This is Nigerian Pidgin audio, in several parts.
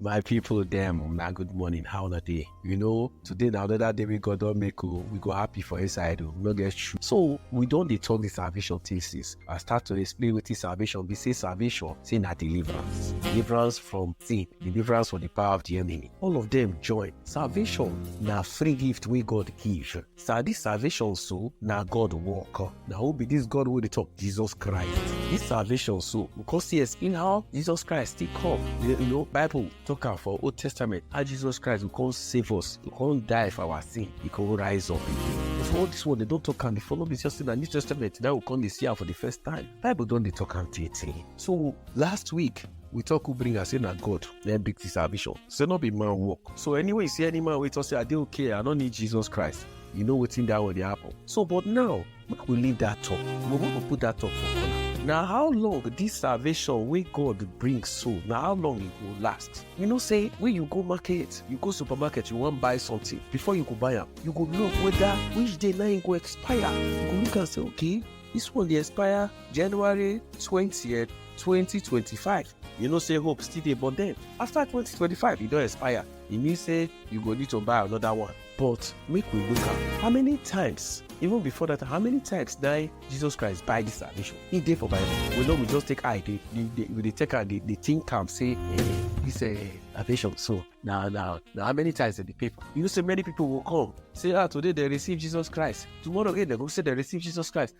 My people dem, una good morning, how una dey? You know, today na another day wey God don make o, we go happy for inside o, we no get shoe. So, we don dey talk the salvation thing since. I start to explain wetin salvation be, say salvation, say na deliverance. Deliverance from sin, deliverance from the power of the enemy. All of them join. Salvation na free gift wey God give. Sir, this salvation so na God work. Na who be this God wey dey talk? Jesus Christ. This salvation so we come see explain how Jesus Christ take come. You you know Bible talk am for Old Testament how Jesus Christ go come save us, go come die for our sin, he come rise up again. For all this one, they don talk am before. No be just say na New Testament that we come dey see am for the first time. Bible don dey talk am tey tey. So last week we talk who bring am say na god na him bring the salvation say no be man work so anyway you see any man wey talk say i dey okay i no need jesus christ you know wetin that one dey happen so but now make we leave that talk we want to put that talk for corner na how long this salvation wey god bring so na how long e go last you know say when you go market you go supermarket you wan buy something before you go buy am you go look whether which day na e go expire you go look am say okay this one dey expire january twentieth 2025 you know say hope still dey but then after 2025 e don expire e mean say you go need to buy another one but make we look am how many times even before that how many times na jesus christ buy this salvation e dey for bible we know we just take eye dey dey dey we dey take am dey dey think am say eh this eh salvation so na na na how many times dem dey pay for you know say many people go come say ah today dem receive jesus christ tomorrow again dem go say dem receive jesus christ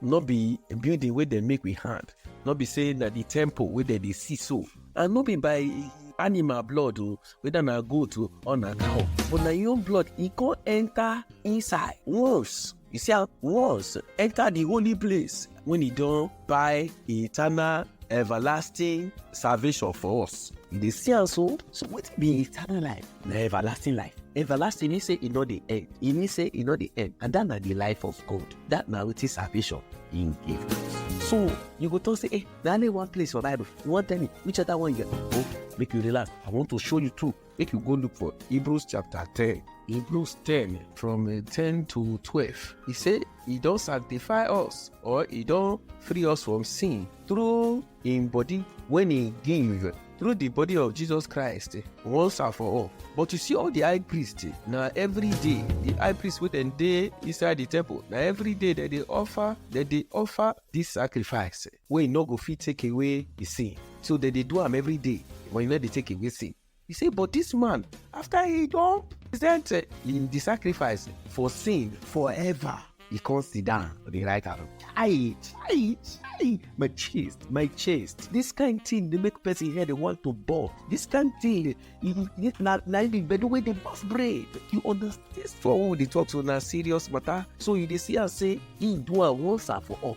no be building wey dem make with hand no be say na the temple wey dem dey see so and no be by animal blood o whether na goat o or na cow but na your blood e come enter inside once you see am once enter the holy place when e don buy eternal everlasting salvation for us you dey see am so so wetin be eternal life na everlasting life everlasting mean say e no dey end e mean say e no dey end and that na the life of god that na wetin salvation im give so you go talk say eh na only one place for bible you wan tell me which other one you get oh make you relax i want to show you too make you go look for hebrews chapter ten hebrews ten from uh, ten to twelve e say e don sanctify us or e don free us from sin through im body when he give through the body of Jesus Christ once and for all. But you see all the high priest na every day the high priest wey dem dey inside the temple na every day dem dey offer dem dey offer this sacrifice wey no go fit take away the sin. So dem dey do am every day but e no dey take away sin. He say, but this man, after he don present eh, him the sacrifice for sin forever, he come sit down for the right hand. Chai, chai, chai, my chest, my chest. This kind thing dey make person head dey want to burst. This kind thing, e- e- na na the gbedu wey dey burst brain. You understand? This one wey we dey talk so na serious matter. So you dey see am say he do am once and for all.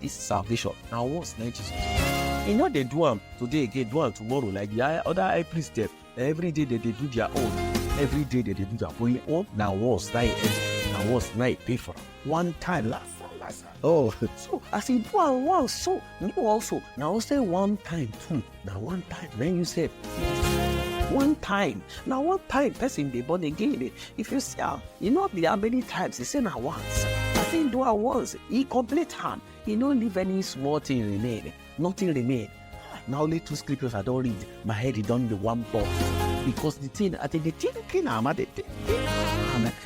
This salvation na once na Jesus. E no dey do am today again, do am tomorrow like the high- other high priest dem. Na every day dem dey do their own. Every day dem dey do their own. For im own, na once na e end. Na once na e pay for am. One time last time last time. Oh, so as e do am once so, you also na also one time too. na one time na you sef one time na one time person dey born again if you see am e no be how many times e say na once as him do am once e complete am e no leave any small thing remain nothing remain na only two scriptures i don read my head e don dey one ball because the thing i dey dey thinking am i dey thinking am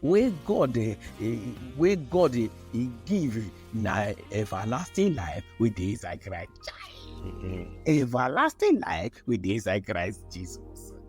wey god eh, eh, wey god eh, he give na everlasting life wey dey inside christ Chai! everlasting life wey dey inside christ jesus.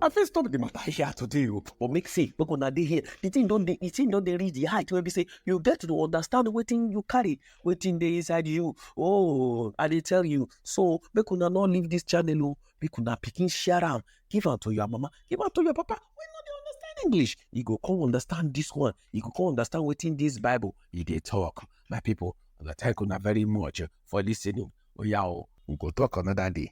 I fit stop the matter here today, o, but make say make una dey here. The thing don dey, the thing don dey reach the height wey be say you get to understand wetin you carry, wetin dey inside you. Oh, I dey tell you. So make una no leave this channel, o. Make una pikin share am, give am to your mama give am to your papa wey no dey understand english e go come understand this one e go come understand wetin this bible e dey talk my people una thank una very much for listening oya o we go talk another day.